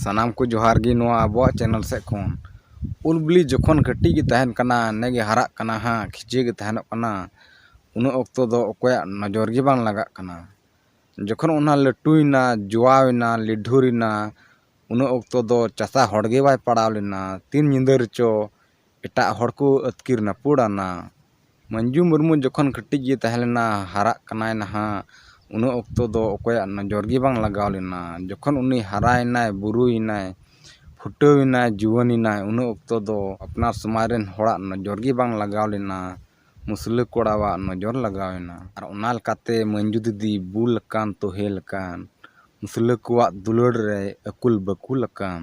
ᱥᱟᱱᱟᱢ ᱠᱚ ᱡᱚᱦᱟᱨ ᱜᱮ ᱱᱚᱣᱟ ᱟᱵᱚᱣᱟᱜ ᱪᱮᱱᱮᱞ ᱥᱮᱫ ᱠᱷᱚᱱ ᱩᱞ ᱵᱤᱞᱤ ᱡᱚᱠᱷᱚᱱ ᱠᱟᱹᱴᱤᱡ ᱜᱮ ᱛᱟᱦᱮᱱ ᱠᱟᱱᱟ ᱱᱮᱜ ᱮ ᱦᱟᱨᱟᱜ ᱠᱟᱱᱟ ᱦᱟᱸᱜ ᱠᱷᱤᱡᱮ ᱜᱮ ᱛᱟᱦᱮᱱᱚᱜ ᱠᱟᱱᱟ ᱩᱱᱟᱹᱜ ᱚᱠᱛᱚ ᱫᱚ ᱚᱠᱚᱭᱟᱜ ᱱᱚᱡᱚᱨ ᱜᱮ ᱵᱟᱝ ᱞᱟᱜᱟᱜ ᱠᱟᱱᱟ ᱡᱚᱠᱷᱚᱱ ᱚᱱᱟ ᱞᱟᱹᱴᱩᱭᱮᱱᱟ ᱡᱚᱣᱟᱣ ᱮᱱᱟ ᱞᱤᱰᱷᱩᱨ ᱮᱱᱟ ᱩᱱᱟᱹᱜ ᱚᱠᱛᱚ ᱫᱚ ᱪᱟᱥᱟ ᱦᱚᱲᱜᱮ ᱵᱟᱭ ᱯᱟᱲᱟᱣ ᱞᱮᱱᱟ ᱛᱤᱱ ᱧᱤᱫᱟᱹ ᱨᱮᱪᱚ ᱮᱴᱟᱜ ᱦᱚᱲ ᱠᱚ ᱟᱹᱛᱠᱤᱨ ᱱᱟᱹᱯᱩᱲᱟᱱᱟ ᱢᱟᱹᱱᱡᱩ ᱢᱩᱨᱢᱩ ᱡᱚᱠᱷᱚᱱ ᱠᱟᱹᱴᱤᱡ ᱜᱮ ᱛᱟᱦᱮᱸ ᱞᱮᱱᱟ ᱦᱟᱨᱟᱜ ᱠᱟᱱᱟᱭ ᱱᱟᱦᱟᱜ ᱩᱱᱟᱹᱜ ᱚᱠᱛᱚ ᱫᱚ ᱚᱠᱚᱭᱟᱜ ᱱᱚᱡᱚᱨ ᱜᱮ ᱵᱟᱝ ᱞᱟᱜᱟᱣ ᱞᱮᱱᱟ ᱡᱚᱠᱷᱚᱱ ᱩᱱᱤ ᱦᱟᱨᱟᱭᱮᱱᱟᱭ ᱵᱩᱨᱩᱭᱮᱱᱟᱭ ᱯᱷᱩᱴᱟᱹᱣ ᱮᱱᱟᱭ ᱡᱩᱣᱟᱹᱱ ᱮᱱᱟᱭ ᱩᱱ ᱚᱠᱛᱚ ᱫᱚ ᱟᱯᱱᱟᱨ ᱥᱚᱢᱟᱡᱽ ᱨᱮᱱ ᱦᱚᱲᱟᱜ ᱱᱚᱡᱚᱨ ᱜᱮ ᱵᱟᱝ ᱞᱟᱜᱟᱣ ᱞᱮᱱᱟ ᱢᱩᱥᱞᱟᱹ ᱠᱚᱲᱟᱣᱟᱜ ᱱᱚᱡᱚᱨ ᱞᱟᱜᱟᱣ ᱮᱱᱟ ᱟᱨ ᱚᱱᱟ ᱞᱮᱠᱟᱛᱮ ᱢᱟᱹᱱᱡᱩ ᱫᱤᱫᱤ ᱵᱩᱞ ᱟᱠᱟᱱ ᱛᱳᱦᱮᱞ ᱟᱠᱟᱱ ᱢᱩᱥᱞᱟᱹ ᱠᱚᱣᱟᱜ ᱫᱩᱞᱟᱹᱲ ᱨᱮᱭ ᱟᱹᱠᱩᱞ ᱵᱟᱹᱠᱩᱞ ᱟᱠᱟᱱ᱾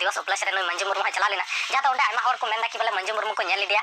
ᱫᱤᱵᱚᱥ ᱩᱯᱞᱟᱹᱥ ᱨᱮ ᱱᱩᱭ ᱢᱟᱹᱱᱡᱩ ᱢᱩᱨᱢᱩ ᱦᱚᱸᱭ ᱪᱟᱞᱟᱣ ᱞᱮᱱᱟ ᱡᱟᱦᱟᱸ ᱫᱚ ᱚᱸᱰᱮ ᱟᱭᱢᱟ ᱦᱚᱲ ᱠᱚ ᱢᱮᱱ ᱮᱫᱟ ᱠᱤ ᱵᱚᱞᱮ ᱢᱟᱹᱱᱡᱩ ᱢᱩᱨᱢᱩ ᱠᱚ ᱧᱮᱞ ᱞᱮᱫᱮᱭᱟ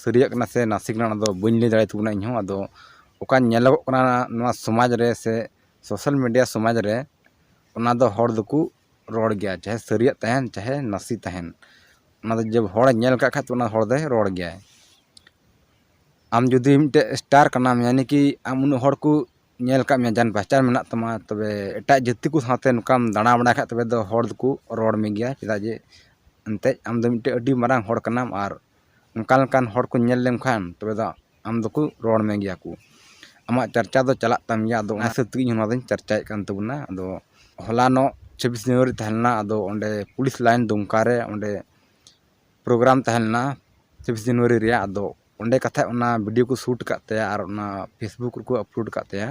ᱥᱟᱹᱨᱤᱭᱟᱜ ᱠᱟᱱᱟ ᱥᱮ ᱱᱟᱥᱮ ᱠᱟᱱᱟ ᱚᱱᱟᱫᱚ ᱵᱟᱹᱧ ᱞᱟᱹᱭ ᱫᱟᱲᱮᱭᱟᱜ ᱛᱟᱵᱚᱱᱟ ᱤᱧᱦᱚᱸ ᱟᱫᱚ ᱚᱠᱟ ᱧᱮᱞᱚᱜᱚᱜ ᱠᱟᱱᱟ ᱱᱚᱣᱟ ᱥᱚᱢᱟᱡᱽ ᱨᱮ ᱥᱮ ᱥᱳᱥᱟᱞ ᱢᱤᱰᱤᱭᱟ ᱥᱚᱢᱟᱡᱽ ᱨᱮ ᱚᱱᱟᱫᱚ ᱦᱚᱲ ᱫᱚᱠᱚ ᱨᱚᱲ ᱜᱮᱭᱟ ᱪᱟᱦᱮ ᱥᱟᱹᱨᱤᱭᱟᱜ ᱛᱟᱦᱮᱱ ᱪᱟᱦᱮ ᱱᱟᱥᱮ ᱛᱟᱦᱮᱱ ᱚᱱᱟᱫᱚ ᱡᱮ ᱦᱚᱲᱮ ᱧᱮᱞ ᱠᱟᱜ ᱠᱷᱟᱡ ᱚᱱᱟ ᱦᱚᱲ ᱫᱚᱭ ᱨᱚᱲ ᱜᱮᱭᱟᱭ ᱟᱢ ᱡᱩᱫᱤ ᱢᱤᱫᱴᱮᱡ ᱥᱴᱟᱨ ᱠᱟᱱᱟᱢ ᱢᱟᱱᱮ ᱠᱤ ᱟᱢ ᱩᱱᱟᱹᱜ ᱦᱚᱲ ᱠᱚ ᱧᱮᱞ ᱠᱟᱜ ᱢᱮᱭᱟ ᱡᱟᱱ ᱯᱮᱦᱪᱟᱱ ᱢᱮᱱᱟᱜ ᱛᱟᱢᱟ ᱛᱚᱵᱮ ᱮᱴᱟᱜ ᱡᱟᱹᱛᱤ ᱠᱚ ᱥᱟᱶᱛᱮ ᱱᱚᱝᱠᱟᱢ ᱫᱟᱬᱟ ᱵᱟᱲᱟᱭ ᱠᱷᱟᱡ ᱛᱚᱵᱮ ᱫᱚ ᱦᱚᱲ ᱫᱚᱠᱚ ᱨᱚᱲ ᱢᱮᱜᱮᱭᱟ ᱪᱮᱫᱟᱜ ᱡᱮ ᱮᱱᱛᱮᱜ ᱟᱢᱫᱚ ᱢᱤᱫᱴᱮᱡ ᱟᱹᱰᱤ ᱢᱟᱨᱟᱝ ᱦᱚᱲ ᱠᱟᱱᱟᱢ ᱟᱨ ᱚᱱᱠᱟ ᱞᱮᱠᱟᱱ ᱦᱚᱲ ᱠᱚ ᱧᱮᱞ ᱞᱮᱢ ᱠᱷᱟᱱ ᱛᱚᱵᱮ ᱫᱚ ᱟᱢ ᱫᱚᱠᱚ ᱨᱚᱲ ᱢᱮᱜᱮᱭᱟ ᱠᱚ ᱟᱢᱟᱜ ᱪᱟᱨᱪᱟ ᱫᱚ ᱪᱟᱞᱟᱜ ᱛᱟᱢ ᱜᱮᱭᱟ ᱟᱫᱚ ᱚᱱᱟ ᱦᱤᱥᱟᱹᱵ ᱛᱮᱜᱮ ᱤᱧ ᱦᱚᱸ ᱱᱚᱣᱟ ᱫᱚᱧ ᱪᱟᱨᱪᱟᱭᱮᱜ ᱠᱟᱱ ᱛᱟᱵᱚᱱᱟ ᱟᱫᱚ ᱦᱚᱞᱟᱱᱚᱜ ᱪᱷᱟᱵᱵᱤᱥ ᱡᱟᱱᱩᱣᱟᱨᱤ ᱛᱟᱦᱮᱸ ᱞᱮᱱᱟ ᱟᱫᱚ ᱚᱸᱰᱮ ᱯᱩᱞᱤᱥ ᱞᱟᱭᱤᱱ ᱫᱩᱢᱠᱟ ᱨᱮ ᱚᱸᱰᱮ ᱯᱨᱳᱜᱨᱟᱢ ᱛᱟᱦᱮᱸ ᱞᱮᱱᱟ ᱪᱷᱟᱵᱵᱤᱥ ᱡᱟᱱᱩᱣᱟᱨᱤ ᱨᱮᱭᱟᱜ ᱟᱫᱚ ᱚᱸᱰᱮ ᱠᱟᱛᱷᱟᱡ ᱚᱱᱟ ᱵᱷᱤᱰᱭᱳ ᱠᱚ ᱥᱩᱴ ᱠᱟᱜ ᱛᱟᱭᱟ ᱟᱨ ᱚᱱᱟ ᱯᱷᱮᱥᱵᱩᱠ ᱨᱮᱠᱚ ᱟᱯᱞᱳᱰ ᱠᱟᱜ ᱛᱟᱭᱟ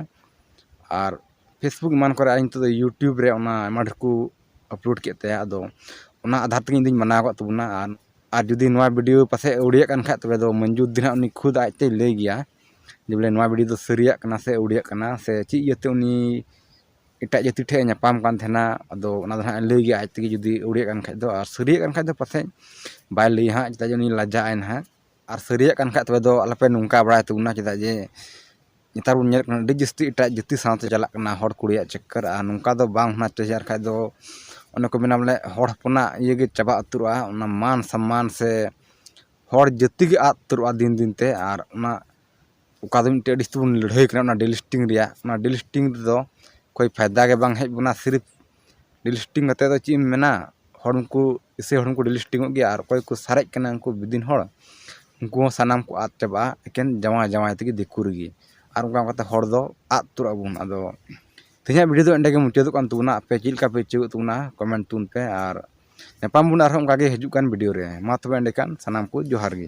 ᱟᱨ ᱯᱷᱮᱥᱵᱩᱠ ᱮᱢᱟᱱ ᱠᱚᱨᱮᱜ ᱟᱨ ᱱᱤᱛᱚᱜ ᱫᱚ ᱤᱭᱩᱴᱩᱵᱽ ᱨᱮ ᱚᱱᱟ ᱟᱭᱢᱟ ᱰᱷᱮᱨ ᱠᱚ ᱟᱯᱞᱳᱰ ᱠᱮᱜ ᱛᱟᱭᱟ ᱟᱫᱚ ᱚᱱᱟ ᱟᱫᱷᱟᱨ ᱛᱮᱜᱮ ᱤᱧ ᱫᱚᱧ ᱢᱟᱱᱟᱣ ᱠᱟᱜ ᱛᱟᱵᱚᱱᱟ ᱟᱨ ᱟᱨ ᱡᱩᱫᱤ ᱱᱚᱣᱟ ᱵᱷᱤᱰᱤᱭᱳ ᱯᱟᱥᱮᱡ ᱟᱹᱣᱲᱤᱭᱟᱜ ᱠᱟᱱ ᱠᱷᱟᱡ ᱛᱚᱵᱮ ᱫᱚ ᱢᱚᱧᱡᱩ ᱫᱤ ᱦᱟᱸᱜ ᱩᱱᱤ ᱠᱷᱩᱫ ᱟᱡ ᱛᱮᱭ ᱞᱟᱹᱭ ᱜᱮᱭᱟ ᱡᱮ ᱵᱚᱞᱮ ᱱᱚᱣᱟ ᱵᱷᱤᱰᱤᱭᱳ ᱫᱚ ᱥᱟᱹᱨᱤᱭᱟᱜ ᱠᱟᱱᱟ ᱥᱮ ᱟᱹᱣᱲᱤᱭᱟᱜ ᱠᱟᱱᱟ ᱥᱮ ᱪᱮᱫ ᱤᱭᱟᱹᱛᱮ ᱩᱱᱤ ᱮᱴᱟᱜ ᱡᱟᱹᱛᱤ ᱴᱷᱮᱡ ᱮ ᱧᱟᱯᱟᱢ ᱠᱟᱱ ᱛᱟᱦᱮᱱᱟ ᱟᱫᱚ ᱚᱱᱟ ᱫᱚ ᱦᱟᱸᱜ ᱮ ᱞᱟᱹᱭ ᱜᱮᱭᱟ ᱟᱡ ᱛᱮᱜᱮ ᱡᱩᱫᱤ ᱟᱹᱣᱲᱤᱭᱟᱜ ᱠᱟᱱ ᱠᱷᱟᱡ ᱫᱚ ᱟᱨ ᱥᱟᱹᱨᱤᱭᱟᱜ ᱠᱟᱱ ᱠᱷᱟᱡ ᱫᱚ ᱯᱟᱥᱮᱡ ᱵᱟᱭ ᱞᱟᱹᱭᱟ ᱦᱟᱸᱜ ᱪᱮᱫᱟᱜ ᱡᱮ ᱩᱱᱤ ᱞᱟᱡᱟᱜ ᱟᱭ ᱦᱟᱸᱜ ᱟᱨ ᱥᱟᱹᱨᱤᱭᱟᱜ ᱠᱟᱱ ᱠᱷᱟᱡ ᱛᱚᱵᱮ ᱫᱚ ᱟᱞᱚᱯᱮ ᱱᱚᱝᱠᱟ ᱵᱟᱲᱟᱭ ᱛᱟᱵᱚᱱᱟ ᱪᱮᱫᱟᱜ ᱡᱮ ᱱᱮᱛᱟᱨ ᱵᱚᱱ ᱧᱮᱞᱮᱫ ᱠᱟᱱᱟ ᱟᱹᱰᱤ ᱡᱟᱹᱥᱛᱤ ᱮᱴᱟᱜ ᱡᱟᱹᱛᱤ ᱥᱟᱶᱛᱮ ᱪᱟᱞᱟᱜ ᱠᱟᱱᱟ ᱦᱚᱲ ᱠᱩᱲᱤᱭᱟᱜ ᱪᱚᱠᱠᱚᱨ ᱟᱨ ᱱᱚᱝᱠᱟ ᱫᱚ ᱵᱟᱝ ᱦᱳᱱᱟ ᱪᱟᱦᱤᱭᱮ ᱟᱨ ᱵᱟᱠᱷᱟᱡ ᱫᱚ ᱚᱱᱮ ᱠᱚ ᱢᱮᱱᱟ ᱵᱚᱞᱮ ᱦᱚᱲ ᱦᱚᱯᱚᱱᱟᱜ ᱤᱭᱟᱹ ᱜᱮ ᱪᱟᱵᱟ ᱩᱛᱟᱹᱨᱚᱜᱼᱟ ᱚᱱᱟ ᱢᱟᱱ ᱥᱚᱱᱢᱟᱱ ᱥᱮ ᱦᱚᱲ ᱡᱟᱹᱛᱤ ᱜᱮ ᱟᱫ ᱩᱛᱟᱹᱨᱚᱜᱼᱟ ᱫᱤᱱ ᱫᱤᱱ ᱛᱮ ᱟᱨ ᱚᱱᱟ ᱚᱠᱟ ᱫᱚ ᱢᱤᱫᱴᱮᱡ ᱟᱹᱰᱤ ᱡᱟᱹᱥᱛᱤ ᱵᱚᱱ ᱞᱟᱹᱲᱦᱟᱹᱭ ᱠᱟᱱᱟ ᱚᱱᱟ ᱰᱤᱞᱤᱥᱴᱤᱝ ᱨᱮᱭᱟᱜ ᱚᱱᱟ ᱰᱤᱞᱤᱥᱴᱤᱝ ᱨᱮᱫᱚ ᱠᱳᱭ ᱯᱷᱟᱭᱫᱟ ᱜᱮ ᱵᱟᱝ ᱦᱮᱡ ᱵᱚᱱᱟ ᱥᱤᱨᱤᱯ ᱰᱤᱥᱴᱤᱝ ᱠᱟᱛᱮᱫ ᱫᱚ ᱪᱮᱫ ᱮᱢ ᱢᱮᱱᱟ ᱦᱚᱲ ᱢᱟᱠᱚ ᱮᱥᱮ ᱦᱚᱲ ᱢᱟᱠᱚ ᱰᱤᱥᱴᱤᱝ ᱚᱜ ᱜᱮᱭᱟ ᱟᱨ ᱚᱠᱚᱭ ᱠᱚ ᱥᱟᱨᱮᱡ ᱠᱟᱱᱟ ᱩᱱᱠᱩ ᱵᱤᱫᱤᱱ ᱦᱚᱲ ᱩᱱᱠᱩ ᱦᱚᱸ ᱥᱟᱱᱟᱢ ᱠᱚ ᱟᱫ ᱪᱟᱵᱟᱜᱼᱟ ᱮᱠᱮᱱ ᱡᱟᱶᱟᱭ ᱡᱟᱶᱟᱭ ᱛᱮᱜᱮ ᱫᱤᱠᱩ ᱨᱮᱜᱮ ᱟᱨ ᱚᱱᱠᱟ ᱚᱱᱠᱟᱛᱮ ᱦᱚᱲ ᱫᱚ ᱟᱫ ᱩᱛᱟᱹᱨᱚᱜ ᱟᱵᱚᱱ ᱟᱫᱚ ᱛᱮᱦᱮᱧᱟᱜ ᱵᱷᱤᱰᱤᱭᱳ ᱫᱚ ᱮᱸᱰᱮ ᱜᱮ ᱢᱩᱪᱟᱹᱫᱚᱜ ᱠᱟᱱ ᱛᱟᱵᱚᱱᱟ ᱟᱯᱮ ᱪᱮᱫ ᱞᱮᱠᱟ ᱯᱮ ᱟᱹᱭᱠᱟᱹᱣ ᱮᱜ ᱛᱟᱵᱚᱱᱟ ᱠᱚᱢᱮᱱᱴ ᱛᱟᱵᱚᱱ ᱯᱮ ᱟᱨ ᱧᱟᱯᱟᱢ ᱵᱚᱱ ᱟᱨᱦᱚᱸ ᱚᱱᱠᱟᱜᱮ ᱦᱤᱡᱩᱜ ᱠᱟᱱ ᱵᱷᱤᱰᱤᱭᱳ ᱨᱮ ᱢᱟ ᱛᱚᱵᱮ ᱮᱸᱰᱮᱠᱷᱟᱱ ᱥᱟᱱᱟᱢ ᱠᱚ ᱡᱚᱦᱟᱨ ᱜᱮ